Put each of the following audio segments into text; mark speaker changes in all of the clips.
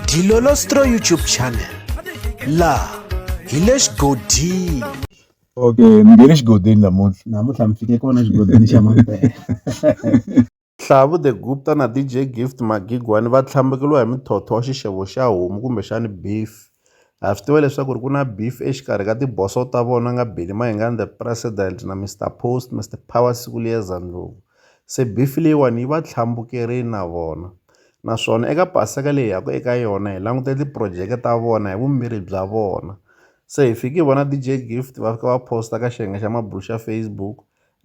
Speaker 1: Dilolostro YouTube channel laha hi le xigodini okay
Speaker 2: mi nge le xigodini namuntlha namuntlha mi fike
Speaker 3: kona xigodini xa mampela
Speaker 4: Hlavu the Gupta na DJ Gift Magigwani va tlhambukeliwa hi muthotho wa xixevo xa homu kumbexani beef. Ha swi tiva leswaku ri ku na beef exikarhi ka tiboso ta vona nga Billy Mayengani the president na Mister Post Mister Power siku liyeza ndlopfu se beef leyiwani yi va tlhambukerini na vona naswona eka paseka leyi yaka eka yona hi langute tiprojeke ta vona hi vumbirhi bya vona se hi fiki hi vona DJ Gift va fika va post ka xiyenge xa mabulo xa Facebook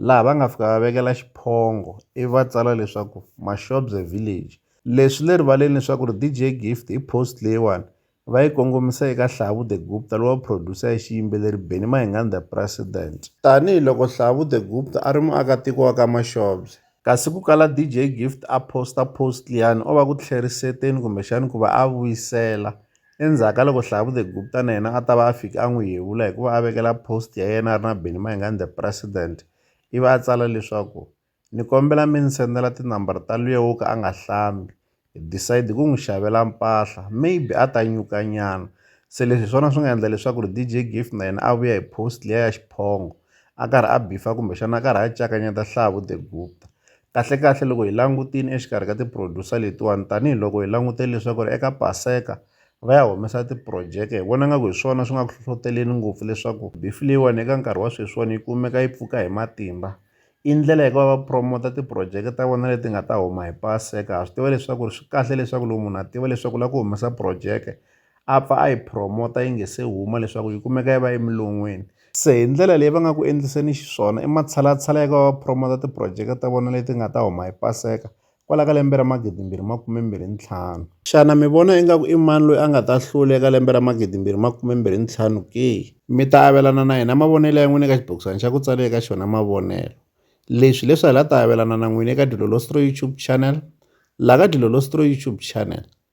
Speaker 4: laha va nga fika va vekela xiphongo ivi va tsala leswaku Mashobze village. Leswi swi le rivaleni leswaku ri DJ Gift i post leyiwani va yi kongomisa eka Hlavu The Gupta lowa producer ya xiyimbeleri Benny Mahingani The President. Tanihi loko Hlavu The Gupta a ri muakatiko wa ka Maxobye. Kasi ku kala DJ Gift a posta post liyani o va ku tlheriseteni kumbexani ku va a vuyisela endzhaku ka loko Hlavu The Gupta na yena a ta va a fike a n'wi yevula hi ku va a vekela post ya yena a ri na Benny Mahingani The President ivi a tsala leswaku Ni kombela mi ni sendela tinambara ta luya wo ka a nga hlambi hi decide ku n'wi xavela mpahla maybe a ta nyuka nyana se leswi hi swona swi nga endla leswaku ri D_J Gift na yena a vuya hi post liya ya xiphongo a karhi a byifa kumbexana a karhi a cakanyeta Hlavu The Gupta kahlekahle loko hi langutile exikarhi ka ti producer letiwani tanihiloko hi langutele leswaku ri eka paseka va ya humesa ti-project hi vona nga ku hi swona swi nga ku hlohloteleni ngopfu leswaku beef leyiwani eka nkarhi wa sweswiwani yi kumeka yi pfuka hi matimba. i ndlela ya ku va va promote ti-project ta vona leti nga ta huma hi paseka ha swi tiva leswaku ri swi kahle leswaku loko munhu a tiva leswaku u lava ku humesa projeke a pfa a yi promote yi nga se huma leswaku yi kumeka yi va emilon'weni se hi ndlela leyi va nga ku endliseni xiswona i matshalatshala ya ku va va promote ti-project ta vona leti nga ta huma hi paseka kwala ka lembe ra 2025. Xana mi vona ingaku i mani loyi a nga ta hlula eka lembe ra 2025 ke? Mi ta avelana na hina mavonelo ya n'wina eka xibokisana xa ku tsale eka xona mavonelo. Leswi hi leswi hi la ta avelana na n'wina eka Dilolostroi YouTube Channel, la ka Dilolostroi YouTube Channel.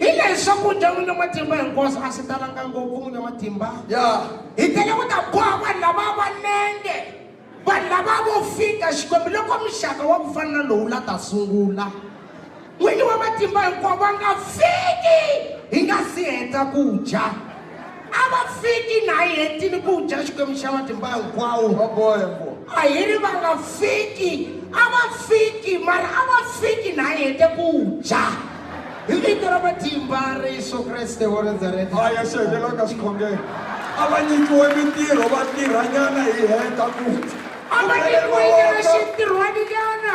Speaker 5: hi leyi swakudya n'wini wa matimba hinkwaswo a swi talanga ngopfu n'wini wa matimba ya hi tele ku ta boha vanhu lava va nenge vanhu lava vo fika xikwembu loko muxaka wa ku fana na lowu la ta sungula n'wini wa matimba hinkwavo va nga fiki hi nga si heta ku dya a va fiki na yi hetini ku dya xikwembu xa matimba hinkwawo a hi ri va nga fiki a va fiki mara a va fiki na yi hete ku dya hi vito ra matimba ra yesu kreste wa nazareta a ya xekelaka
Speaker 6: xikhongelo a va nyikiwe mintirho va tirhanyana hi heta ku a va nyikiwe
Speaker 5: xintirhwaninyana